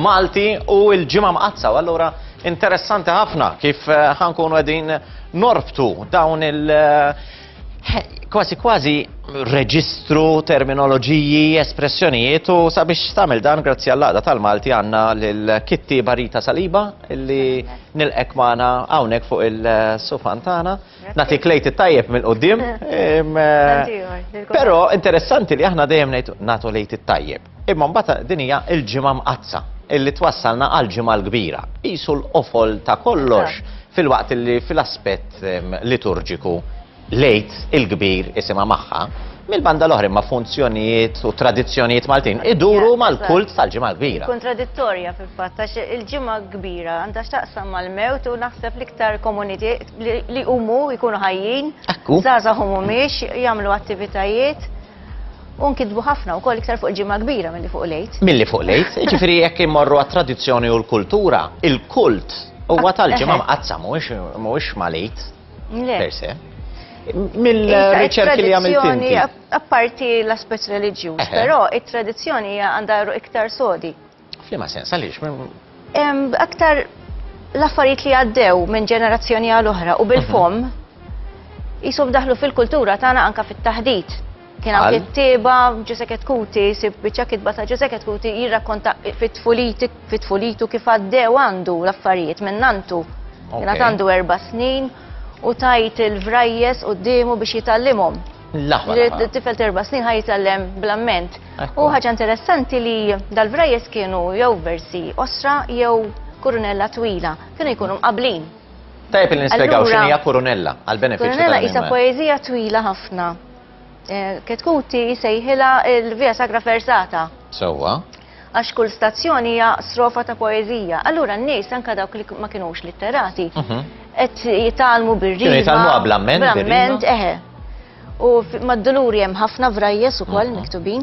Malti u l-ġimgħa mqaddsa, u allura interessanti ħafna kif eh, ħankunu qegħdin norbtu dawn il- eh, kważi kważi reġistru, terminoloġiji, espressjonijiet u sabiex tagħmel dan grazzi għall-laqda tal-Malti għandna lil Kitti Barita Saliba illi nilqek magħna hawnhekk fuq il-sufan tagħna. Nagħti klejt it-tajjeb mill-qudiem. Eh, però interessanti li aħna dejjem nagħtu lejt it-tajjeb. Imma mbagħad din hija l-Ġimgħa Mqaddsa illi twassalna għall-Ġimgħa l-Kbira. Qisu l-qofol ta' kollox filwaqt illi fil-aspett ehm, liturġiku lejt il-kbir isimha magħha, mill-banda l-oħra imma funzjonijiet u tradizzjonijiet Maltin iduru mal-kult tal-ġimgħa kbira. Kontradittorja fil-fatt għax il-ġimgħa kbira għandha x'taqsam mal-mewt u naħseb l-iktar komuniti li huma jkunu ħajjin, żgħażagħ huma mhix jagħmlu attivitajiet. U nkitbu ħafna wkoll iktar fuq il-ġimgħa kbira milli fuq l-għid. Milli fuq l-għid, jiġifieri jekk immorru għat-tradizzjoni u l-kultura, il-kult huwa ah, tal-ġimgħa mqazzam mhuwiex mal-għid per se mill-riċerki li għamilt inti. Apparti l-aspet religjuż, eh. però it-tradizzjoni għandha iktar sodi. F'liema sens, għaliex? Aktar l-affarijiet li għaddew minn ġenerazzjoni għal oħra u bil-fom jisom mhm. daħlu fil-kultura tagħna anka fit-taħdit. Kien hawn kittieba Ġusek Kuti, sib biċċa kitba ta' Ġusek Kuti jirrakkonta fit-tfulitu kif għaddew għandu l-affarijiet minn nantu. Kien għandu erba' snin u tajt il-vrajjes u d-dimu biex jitallimhom. L-aħwa. Tifel terba snin ħaj jitgħallem bl-amment. U ħaġa interessanti li dal-vrajes kienu jew versi osra jew kurunella twila, kienu jkunu mqablin. Tajb li nispjegaw x'inhija kurunella għal-benefiċċju. Kurunella isa poeżija twila ħafna. Eh, Ketkuti sejħila il-Via Sagra Fersata. Sewwa. Għax kull stazzjon hija strofa ta' poeżija. Allura n-nies anke dawk li ma kinux litterati qed jitgħallmu bir-rima. Kienu jitgħallmu qabla mment. Bl-amment, eħe. U mad-duluri hemm ħafna vrajjes ukoll miktubin.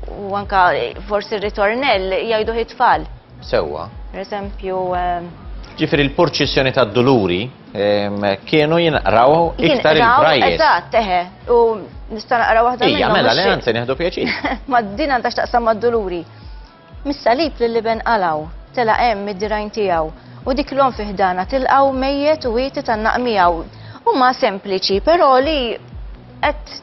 U anke forsi r-ritornell jgħidu ħi tfal. Sewwa. Per eżempju. Ġifieri l-purċissjoni tad-duluri. Kienu jinqraw iktar il-brajjes. Eżatt, teħe. U nista' naqra waħda minnhom. Ija, mela le anzi nieħdu pjaċir. Ma din għandha x'taqsam mad-duluri. Mis-salib li liben qalaw, tela' hemm id-dirajn tiegħu u dik l-om fiħdana tilqaw mejjet u wieti tan-naqmijaw. Huma sempliċi, però li qed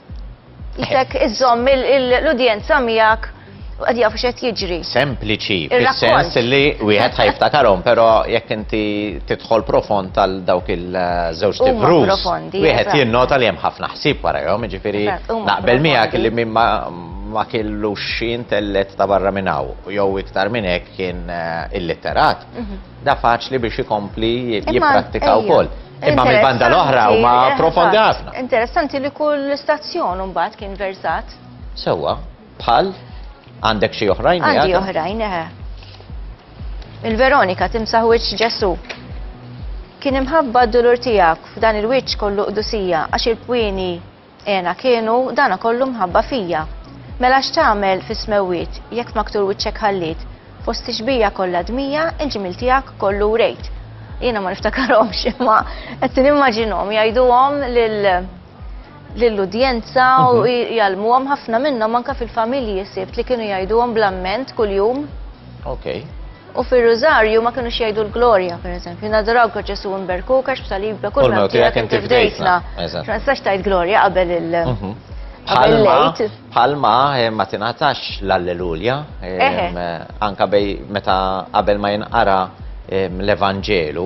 Jisek iżżomm l-udjenza miegħek għad jafu xed jiġri. Sempliċi, fil-sens li wieħed ħajftakarhom, pero jekk inti tidħol profond tal dawk il-żewġ tibrus, wieħed jinnota li hemm ħafna ħsieb warajhom, ġifieri naqbel miegħek li minn ma kellu xi intellet ta' barra minn hawn, jew iktar minn hekk kien eh, illitterat. Mhm. Da faċli biex ikompli jipprattika wkoll. Imma mill-banda l-oħra huma profondi ħafna. Interessanti li kull stazzjon mbagħad kien versat. Sewwa, bħal għandek xi oħrajn. Għandi oħrajn, eħe. Il-Veronika timsaħ wiċċ Ġesu. Kien imħabba d-dulur tiegħek f'dan il-wiċċ kollu qdusija għax il-pwini Għena kienu, dana kollu mħabba fija. Mela x'tagħmel fis-smewwiet, jekk f'maktur wiċċek ħalliet, fost tixbija kollha dmija, il-ġmiel tiegħek kollu wrejt. Jiena ma niftakarhomx, imma qed nimmaġinhom jgħiduhom lil lill-udjenza u mhm. jgħalmuhom ħafna minnhom anke fil-familji sibt li kienu jgħiduhom bl-amment kuljum. Okay. U fir-Rużarju ma kinux jgħidu l-Glorja, per eżempju, naduraw ka Ġesu imberku, kax b'salibka kull ma tiegħek inti fdejtna. Ma nistax tajt Glorja qabel il- mhm. Palma, palma eh, ma tingħatax l-Alleluja, eh, anka bej meta qabel ma jinqara l-Evanġelu.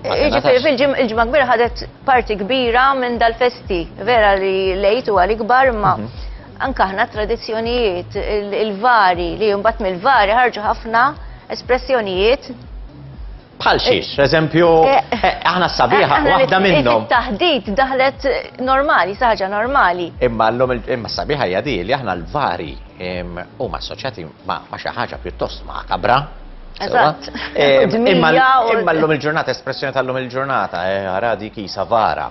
Ġifiri, fil-ġimma kbira ħadet parti kbira minn dal-festi, vera li lejtu għal-ikbar ma' mhm. Anke aħna t-tradizzjonijiet, il-vari, li mbagħad mill-vari ħarġu ħafna espressjonijiet Bħal eh, xiex, eżempju, eh, eh, aħna sabiħa, waħda minnhom. Taħdit daħlet normali, saħġa normali. Imma l-lum imma sabiħa jadi li aħna l-vari u ma assoċjati ma xi ħaġa pjuttost ma kabra. Eżatt. Imma l-lum il-ġurnata, espressjoni tal-lum il-ġurnata, għaradi kisa vara.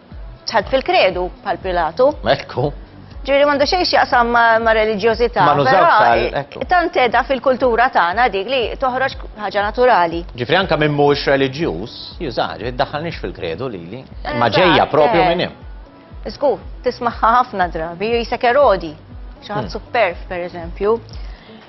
Tħadd fil-kredu bħal Pilatu. Ekku. Ġiri mandu xejn x'jaqsam ma' reliġjożità. Ma nużawx għal. Ekku. Tant edha fil-kultura tagħna dik li toħroġ ħaġa naturali. Ġifri anka minn mhux reliġjuż, jużaha, ġifri ddaħħalniex fil-kredu lili. Ma ġejja propju minn hemm. Żgur, tismaħħa ħafna drabi, jisek erodi, xi ħadd superf pereżempju.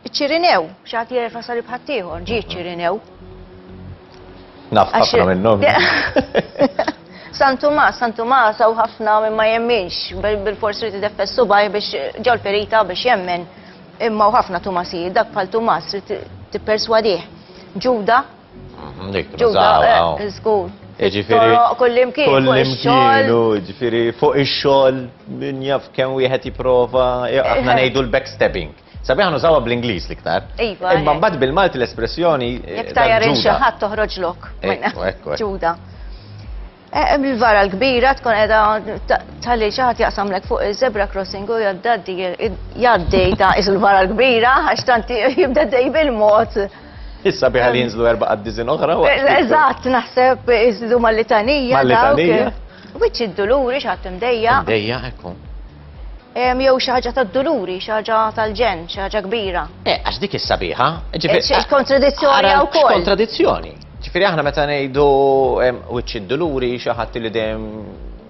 Iċ-Ċirinew, xi ħadd jerfa' salib ħaddieħor, ġie ċ-Ċirinew. Naf ħafna minnhom. San Tumas, San Tumas hawn ħafna minn ma jemminx, bil-fors li tideffes subaj biex ġol perita biex jemmen. Imma ħafna Tumasijiet, dak bħal Tumas li tipperswadih. Ġuda. Mhm, dik, Ġuda, eh, żgur. Ġifiri, kullimkien, kullimkien, ġifiri, fuq ix-xogħol min jaf kemm wieħed jipprova, aħna eh, eh. ngħidu l-backstabbing. Sabiħa nużawha bl-Ingliż l-iktar. Iva. Imma eh. mbagħad bil-Malti l-espressjoni. Eh, Jekk tajjar xi ħadd toħroġ lok. Ġuda. Eh, Il-vara l-kbira tkun edha tal-li xaħat jaqsamlek fuq il-zebra crossing u jaddaddi jaddi ta' il-vara l-kbira għax tanti jibda dej bil-mod. Issa biħa li jinżlu erba' għaddizin oħra. Eżatt, naħseb iżdu mal-litanija. Mal-litanija. Wiċċ id-duluri xaħat imdejja. Imdejja, ekku. Jew xi ħaġa tad-duluri, xi ħaġa tal-ġen, xi ħaġa kbira. Eh, għax dik is-sabiħa. Eh, kontradizzjoni wkoll. Kontradizzjoni. Ġifieri aħna meta ngħidu wiċċ id-duluri xi ħadd li dejjem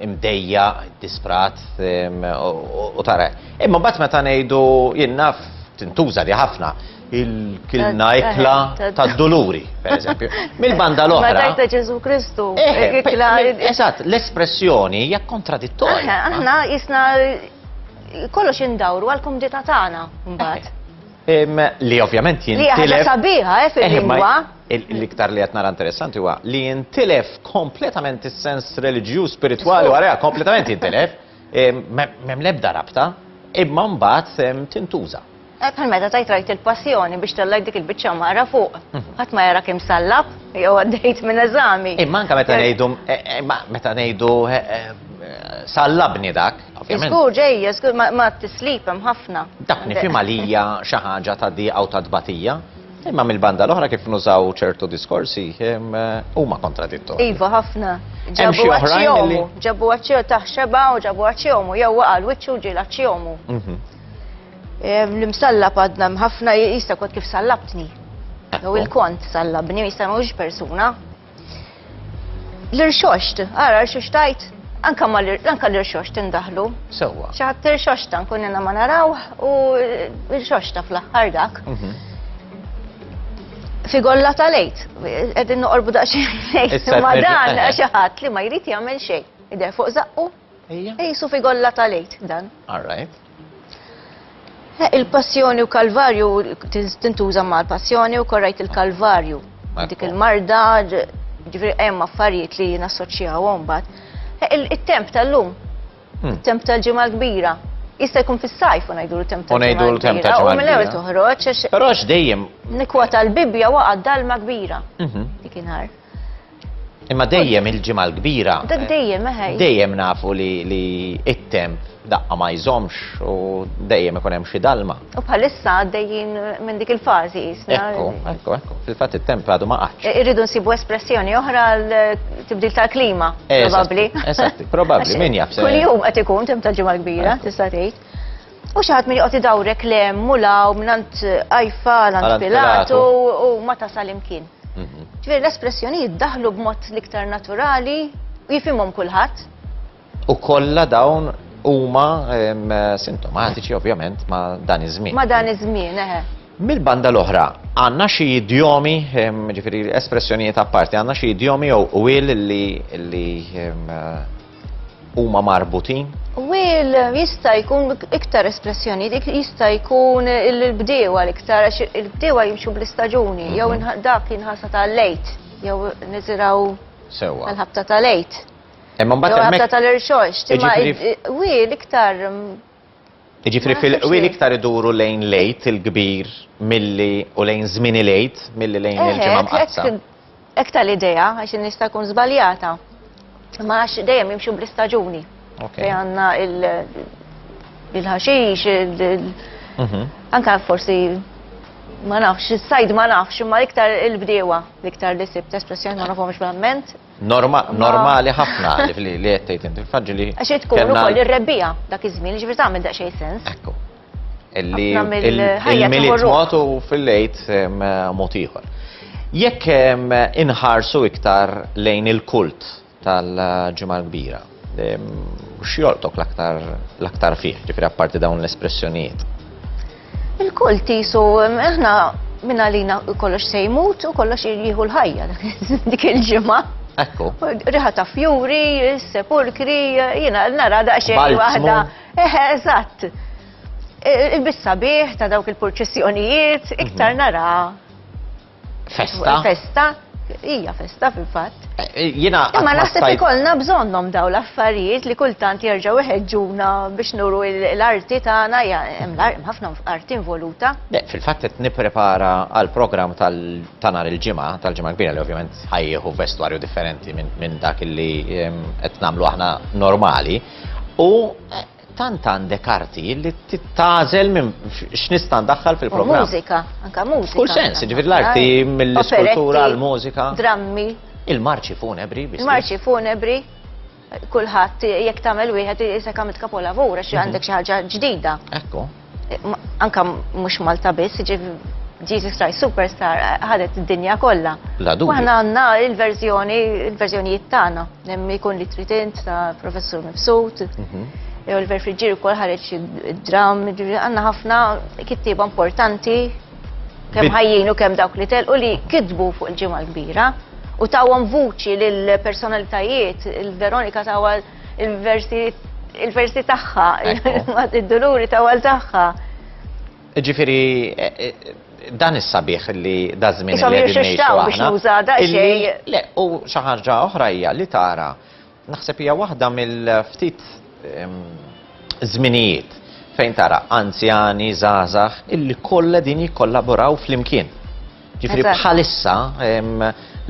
imdejja, disprat u tara. Imma mbagħad meta ngħidu jien naf tintuża li ħafna il-kilna ikla ta' doluri, per eżempju. Mill-banda l-oħra. Ma ta' Ġesu Kristu. Eżatt, l-espressjoni hija kontradittorja. Aħna jisna kollox indawru għal-kumdita tagħna mbagħad. Li ovvjament jintilef. Li ħaġa sabiħa, eh, fil-lingwa. L-iktar li għatna interessanti huwa li jintilef kompletament is-sens religju, spirituali, u għara kompletament jintilef, mem lebda rabta, imma mbagħad tintuża. Bħal meta tajt rajt il-passjoni biex tellajt dik il-biċċa mara fuq. Mhm. Ħadd ma jara kemm sallab jew għaddejt minn eżami. Imma anke meta ngħidu eh, eh, meta ngħidu eh, sallabni dak. Iskur ġej, iskur ma tislip hemm ħafna. Dak nifhim għalija xi ħaġa ta' di għaw ta' tbatija. Imma mill-banda l-oħra kif nużaw ċertu diskorsi eh, huma kontradittu. Iva ħafna. Ġabu għaċjomu, ġabu għaċjomu taħxeba u ġabu għaċjomu, jew għal wiċċu ġil għaċjomu. Mhm. L-imsallab għadna mħafna jista' kont kif sallabtni. Jew il-kont sallabni, jista' mhux persuna. L-irxoxt, ara rxoxt tajt, anka ma anka l-irxoxt indaħlu. Sewwa. Xi ħadd irxoxta nkun ma naraw u irxoxta fl-aħħar dak. Mhm. Figolla ta' lejt, qegħdin noqorbu daqsxejn lejt ma dan xi ħadd li ma jrid jagħmel xejn. Idher fuq zaqqu, jisu figolla ta' lejt dan. All right. Eh, il-passjoni u kalvarju tintuża ma' l-passjoni u korrajt il-kalvarju. Dik il-marda, ġifri hemm affarijiet li nassoċjawhom bat. Eh, il-temp tal-lum, hmm. il-temp tal-ġimgħa l-kbira, jista' jkun fis-sajf u ngħidu l-temp tal-ġimgħa. U ngħidu l-temp tal-ġimgħa. U mill-ewwel toħroġ. Però x'dejjem. Nikwa tal-Bibbja waqgħad dalma kbira. Mhm. Dik inhar. Imma dejjem il-ġimgħa l-kbira. Dak dejjem eħej. Dejjem nafu li li it-temp daqqa ma jżomx u dejjem ikun hemm xi dalma. U bħalissa għaddejjin minn dik il-fażi jisna. Ekku, ekku, ekku. Fil-fatt it-temp għadu ma qaċ. Irridu nsibu espressjoni oħra l-tibdil tal-klima, probabbli. Eżatt, probabbli, min jaf. Kuljum qed ikun temp tal-ġimgħa l-kbira, tista' tgħid. U xi ħadd min joqgħod idawrek le hemm u law mingħand Ajfa għand Pilatu u ma tasal imkien. Mhm. Ġifieri l-espressjonijiet daħlu b'mod l-iktar naturali u jifhimhom kulħadd. U kollha dawn huma sintomatiċi ovvjament ma' dan iż-żmien. Ma' dan iż-żmien, eħe. Mill-banda l-oħra, għanna xi idjomi, ġifiri espressjonijiet apparti, għanna xi idjomi jew u li huma marbutin? Wil, jista' jkun iktar espressjoni, dik jista' jkun il-bdiewa l-iktar, għax il-bdiewa jimxu bl-istaġuni, jew mhm. dak jinħasa ta' lejt, jew niziraw għal-ħabta ta' lejt. Imma mbagħad ħabta tal-irxox, timma wil iktar mm, Jiġifieri fil-qwi l-iktar iduru lejn l-Għid il-kbir milli u lejn żmien il-Għid milli lejn il-Ġimgħa Mqaddsa. Hekk ta' l-idea għax nista' jkun żbaljata. Ma għax dejjem jimxu bl-istaġuni. Fej għandna il-ħaxix, mhm. anka forsi ma nafx, is-sajd ma nafx, imma iktar il-bdiewa, iktar li sibt espressjoni ma nafhomx verament. Normali ħafna li qed tgħid inti. Faġġi li. Għax irid tkun ukoll ir-rebbija dak iż-żmien, ġifieri tagħmel daqsxejn sens. Ekku. Illi il-miliet mod u fil-lejt mod ieħor. Jekk inħarsu iktar lejn il-kult tal-ġimgħa l-kbira. X'jolqtok l-aktar fih, ġifieri apparti dawn l-espressjonijiet? Il-kull tisu, aħna minn għalina kollox se jmut u kollox jieħu l-ħajja dik il-ġimgħa. Ekku. Riħa ta' fjuri, sepulkri, jiena nara daqsxejn waħda. Eħe, eżatt. Il-bissa bih ta' dawk il-purċessjonijiet iktar nara Festa? Festa, hija festa fil-fatt. Eh, eh, jina. Imma naħseb ikollna bżonnhom daw l-affarijiet li kultant jerġgħu iħeġġuna biex nuru l-arti tagħna hemm ħafna arti involuta. Fil-fatt qed nipprepara għal programm ta' nhar il-ġimgħa, tal-ġimgħa kbira li ovvjament ħajjieħu vestwarju differenti minn dak li qed nagħmlu aħna normali. U eh, Tant għandek arti li tagħżel minn x'nista' ndaħħal fil-programm. Mużika, anka mużika. Kull sens, ġifier l-arti mill-iskultura l-mużika. Drammi. Il-marċi funebri. Il-marċi funebri. Kulħadd jekk tagħmel wieħed isek għamilt kapolavur għax għandek xi ħaġa ġdida. Ekku. Anka mhux Malta biss, Jesus Christ Superstar ħadet id-dinja kollha. La dubju. Aħna għandna il-verżjoni, il-verżjonijiet tagħna, hemm ikun li trid int ta' Professur Mifsud. Mhm. Jew il verfriġir ukoll ħareġ id-dram, għandna ħafna kittieba importanti kemm ħajjin u kemm dawk li telqu li kitbu fuq il-ġimgħa l-kbira u tawhom vuċi lill personalitajiet il-Veronika tawha il-versi tagħha, id-duluri ta' għal tagħha. Ġifieri eh, eh, dan is-sabiħ li dażmin li qegħdin ngħixu aħna. Le, u xi ħaġa oħra hija li tara naħseb hija waħda mill-ftit żminijiet fejn tara anzjani, żgħażagħ illi kollha din jikkollaboraw flimkien. Ġifri bħalissa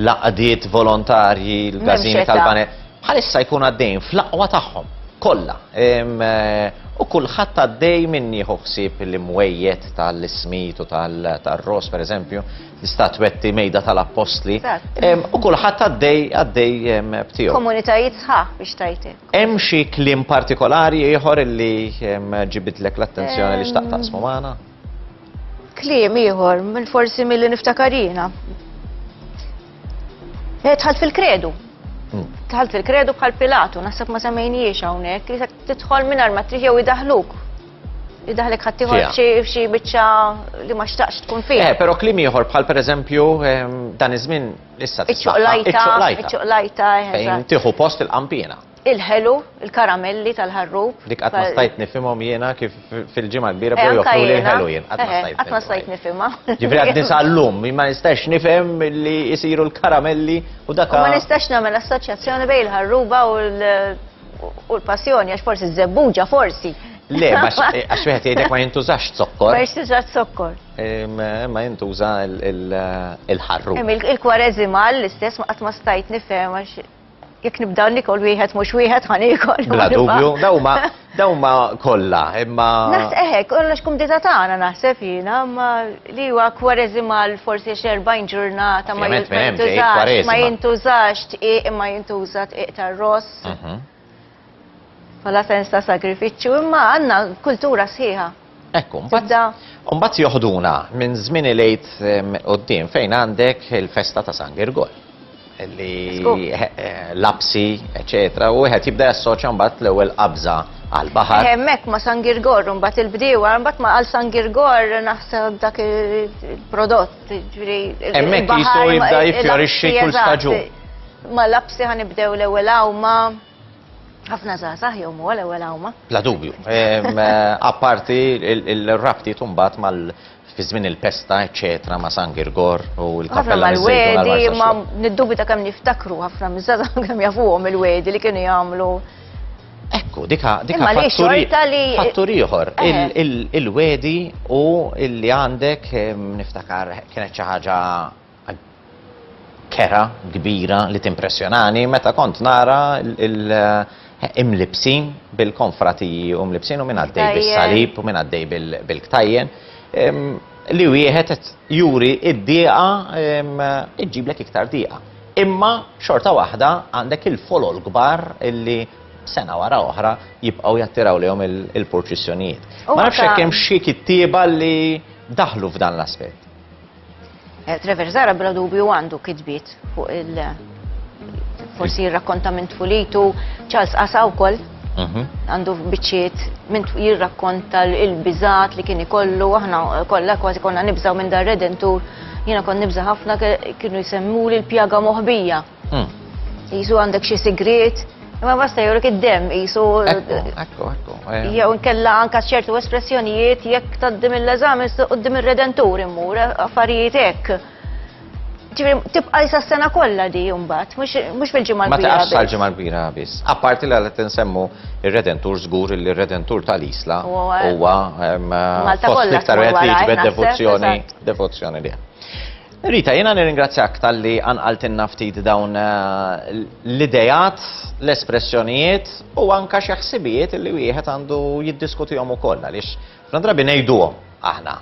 laqdiet volontarji l-gazini tal-banet, bħalissa jkun għaddejn fl-aqwa tagħhom kollha. Eh, u kulħadd għaddej minn jieħu ħsieb l-imwejjed tal-ismit u tal-ros, per eżempju, l-istatwetti mejda tal-appostli. U kulħadd għaddej għaddej b'tiegħu. Komunitajiet sħaħ biex tajti. Hemm xi kliem partikolari ieħor li ġibidlek l-attenzjoni li xtaqtaqsmu magħna? Kliem ieħor, forsi milli niftakarina. Eh, tħalt fil-kredu. Hmm. Tħalt fil-kredu bħal Pilatu, naħseb ma semmejniex hawnhekk, li tidħol minn arma triħ jew idaħluk. Idaħlek ħaddieħor f'xi biċċa li ma xtaqx tkun fih. Eh, però kliem ieħor bħal pereżempju ehm, dan iż-żmien issa. Iċċoqlajta, iċċoqlajta. Fejn tieħu post il-qampina. Il-ħelu, il-karamelli tal-ħarrub. Dik qatt ma stajt nifhimhom jiena kif fil-Ġimgħa l-Kbira bdew joffruli l-ħelu jien. Qatt ma stajt. Qatt ma stajt nifhimha. Ġifieri għad nisa llum ma nistax nifhem li jsiru l-karamelli u dak. U ma nistax nagħmel assoċjazzjoni bejn il-ħarruba u l-passjoni għax forsi ż-żebbuġa forsi. Le, għax wieħed jgħidek ma jintużax zokkor. Ma jintużax zokkor. Ma jintuża il-ħarru. Il-kwarezi mal l-istess ma qatt ma stajt nifhem għax Jekk nibda nikol wieħed mhux wieħed ħa nikol. Bla dubju, dawma dawma kollha, imma. Naħs eħek, kollox kum diża tagħna naħseb jiena, imma li huwa kwareżimal forsi xi 40 ġurnata ma jintużax, ma jintużax tqiq imma jintuża tqiq tar-ross. Mhm. Bħala sens ta' sagrifiċċju, imma għandna kultura sħiħa. Ekku, mbagħad joħduna minn żmien il-għid quddiem fejn għandek il-festa ta' San Girgol li eh, lapsi, eccetera, u wieħed jibda jassoċja mbagħad l-ewwel qabża għal baħar. Eh, hemmhekk ma' San Girgor, mbagħad il-bdiewa, mbagħad ma' għal San Girgor naħseb dak il-prodott. Hemmhekk jistgħu jibda jiffjorixxi kull staġun. Ma lapsi ħa nibdew l-ewwel awma. Ħafna żgħażagħ jew huwa l-ewwel awma. Bla dubju. Apparti l-rabti tumbat mal fi żmien il-pesta, eċċetera, ma' San Girgor u l-kappella miż-żejtun. Ma niddubita kemm niftakru ħafna miż-żgħażagħ kemm jafuhom il-wedi li kienu jagħmlu. Ekku, dika dika fattur ieħor. Eh. Il-wedi u li għandek niftakar kienet xi ħaġa kera kbira li timpressjonani meta kont nara il- imlibsin bil-konfratiji u mlibsin u minn għaddej bil-salib u minn għaddej bil-ktajjen li wieħed juri id-dieqa iġġiblek iktar dieqa. Imma xorta waħda għandek il-folol kbar illi sena wara oħra jibqgħu jattiraw lejhom il-purċissjonijiet. Ma nafx hekk hemm xi kittieba li daħlu f'dan l-aspett. Eh, Trevor Zara bla dubju għandu kitbiet fuq il- forsi jirrakkonta minn tfulitu, Charles Asa wkoll Mhm. għandu biċċiet minn jirrakkonta il-bizat li kien ikollu, aħna kollha kważi konna nibżaw minn dar redentur, jiena kon nibża ħafna kienu jsemmu li l-pjaga moħbija. Hmm. Jisu għandek xi sigriet, imma basta jurek id-dem jisu. Ekku, ekku. Eh. Jew nkella anka ċertu espressjonijiet jekk taddim l-eżami qudiem ir-redentur immur affarijiet hekk. tibqa jisa sena kollha di jumbat, mhux mill-ġimgħa l-bira. Ma taqafx sal-ġimgħa l-bira biss. Apparti li għal tinsemmu ir-Redentur żgur li r-Redentur tal-Isla huwa fost l-iktar qed li jiġbed devozzjoni devozzjoni li. Rita, jena nirringrazzjak tal-li għanqaltinna ftit dawn eh, l-idejat, l-espressjonijiet u anka xi ħsibijiet li wieħed għandu jiddiskutihom ukoll għaliex Ħafna drabi ngħiduhom aħna,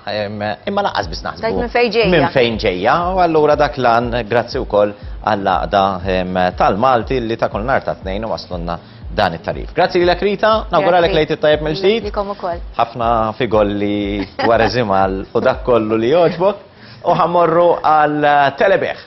imma laqas biss naħsbu. Tajt minn fejn ġejja. Minn fejn ġejja, u allura dak lan grazzi wkoll għall-għaqda tal-Malti li ta' kull nhar ta' tnejn u waslunna dan it-tarif. Grazzi lilek Rita, nawguralek lejt it-tajjeb mill-ġdid. Ħafna figol li wara żimal u dak kollu li joġbok u ħamorru għal telebeħ.